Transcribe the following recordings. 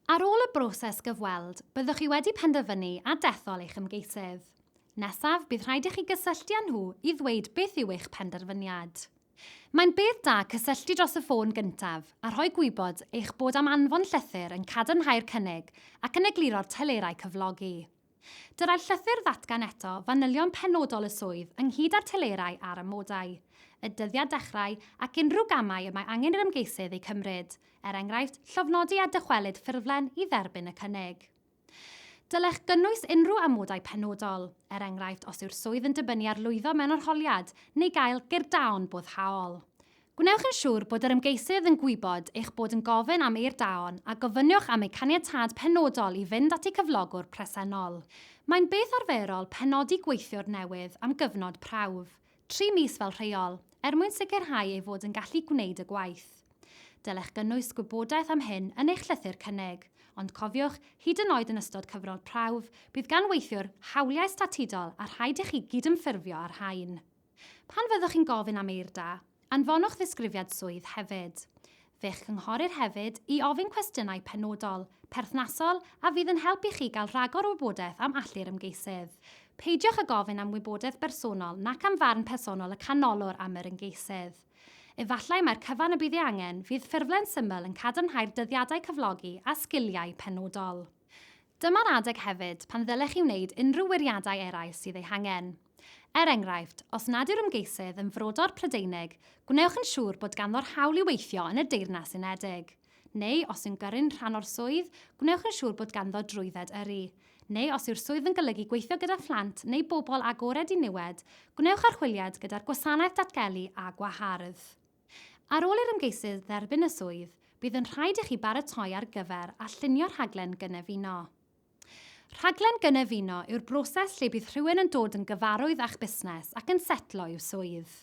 Ar ôl y broses gyfweld, byddwch chi wedi penderfynu a dethol eich ymgeisydd. Nesaf, bydd rhaid i chi gysylltu â nhw i ddweud beth yw eich penderfyniad. Mae'n beth da cysylltu dros y ffôn gyntaf a rhoi gwybod eich bod am anfon llythyr yn cadarnhau'r cynnig ac yn egluro'r telerau cyflogi. Dylai'r llythyr ddatgan eto fanylion penodol y swydd ynghyd â'r telerau a'r amodau, y dyddiad dechrau ac unrhyw gamau y mae angen i'r ymgeisydd eu cymryd, er enghraifft, llofnodi a dychwelyd ffurflen i dderbyn y cynnig. Dylech gynnwys unrhyw amodau penodol, er enghraifft os yw'r swydd yn dibynnu ar lwyddo mewn arholiad neu gael gyrdaon boddhaol. Gwnewch yn siŵr bod yr ymgeisydd yn gwybod eich bod yn gofyn am eirdaon a gofynnwch am eu caniatâd penodol i fynd at eu cyflogwr presennol. Mae'n beth arferol penodi gweithiwr newydd am gyfnod prawf, tri mis fel rheol, er mwyn sicrhau ei fod yn gallu gwneud y gwaith. Dylech gynnwys gwybodaeth am hyn yn eich llythyr cynnig, ond cofiwch, hyd yn oed yn ystod cyfnod prawf, bydd gan weithiwr hawliau statudol a rhaid i chi gydymffurfio â'r rhain. Pan fyddwch chi'n gofyn am eirda, anfonwch ddisgrifiad swydd hefyd. Fe'ch cynghorir hefyd i ofyn cwestiynau penodol, perthnasol a fydd yn helpu chi gael rhagor o wybodaeth am allu'r ymgeisydd. Peidiwch â gofyn am wybodaeth bersonol nac am farn personol y canolwr am yr ymgeisydd. Efallai mai'r cyfan y bydd ei angen, fydd ffurflen syml yn cadarnhau'r dyddiadau cyflogi a sgiliau penodol. Dyma'r adeg hefyd pan ddylech chi wneud unrhyw wiriadau eraill sydd eu hangen. Er enghraifft, os nad yw'r ymgeisydd yn frodor Prydeinig, gwnewch yn siŵr bod ganddo'r hawl i weithio yn y Deyrnas Unedig. Neu, os yw'n gyrru'n rhan o'r swydd, gwnewch yn siŵr bod ganddo drwydded yrru. Neu, os yw'r swydd yn golygu gweithio gyda phlant neu bobl agored i niwed, gwnewch archwiliad gyda'r Gwasanaeth Datgelu a Gwahardd. Ar ôl i'r ymgeisydd dderbyn y swydd, bydd yn rhaid i chi baratoi ar gyfer a llunio rhaglen gynefino. Rhaglen gynefino yw'r broses lle bydd rhywun yn dod yn gyfarwydd â'ch busnes ac yn setlo i'w swydd.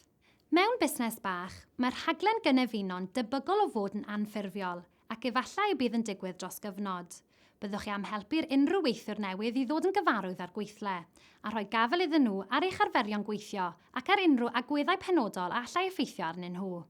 Mewn busnes bach, mae'r rhaglen gynefino'n debygol o fod yn anffurfiol ac efallai y bydd yn digwydd dros gyfnod. Byddwch chi am helpu'r unrhyw weithiwr newydd i ddod yn gyfarwydd â'r gweithle, a rhoi gafael iddyn nhw ar eich arferion gweithio ac ar unrhyw agweddau penodol a allai effeithio arnyn nhw.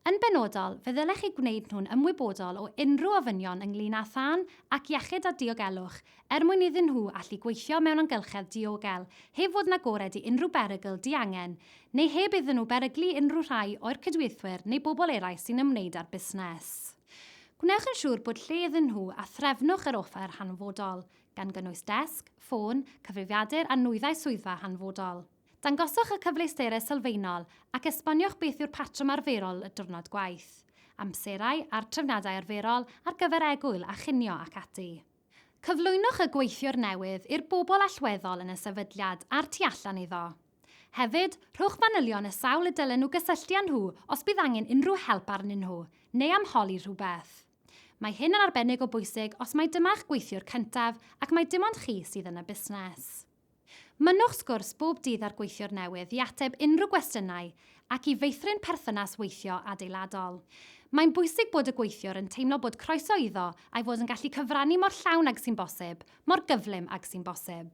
Yn benodol, fe ddylech eu gwneud nhw'n ymwybodol o unrhyw ofynion ynglŷn â thân ac iechyd a diogelwch, er mwyn iddyn nhw allu gweithio mewn amgylchedd diogel, heb fod yn agored i unrhyw berygl diangen, neu heb iddyn nhw beryglu unrhyw rhai o'u cydweithwyr neu bobl eraill sy'n ymwneud â'r busnes. Gwnewch yn siŵr bod lle iddyn nhw a threfnwch yr offer hanfodol, gan gynnwys desg, ffôn, cyfrifiadur a nwyddau swyddfa hanfodol. Dangoswch y cyfleusterau sylfaenol ac esboniwch beth yw'r patrwm arferol y diwrnod gwaith, amserau a'r trefniadau arferol ar gyfer egwyl a chinio ac ati. Cyflwynwch y gweithiwr newydd i'r bobl allweddol yn y sefydliad a'r tu allan iddo. Hefyd, rhowch fanylion y sawl y dylen nhw gysylltu â nhw os bydd angen unrhyw help arnyn nhw neu am holi rhywbeth. Mae hyn yn arbennig o bwysig os mai dyma'ch gweithiwr cyntaf ac mai dim ond chi sydd yn y busnes. Mynnwch sgwrs bob dydd â'r gweithiwr newydd i ateb unrhyw gwestiynau ac i feithrin perthynas weithio adeiladol. Mae'n bwysig bod y gweithiwr yn teimlo bod croeso iddo a'i fod yn gallu cyfrannu mor llawn ag sy'n bosib, mor gyflym ag sy'n bosib.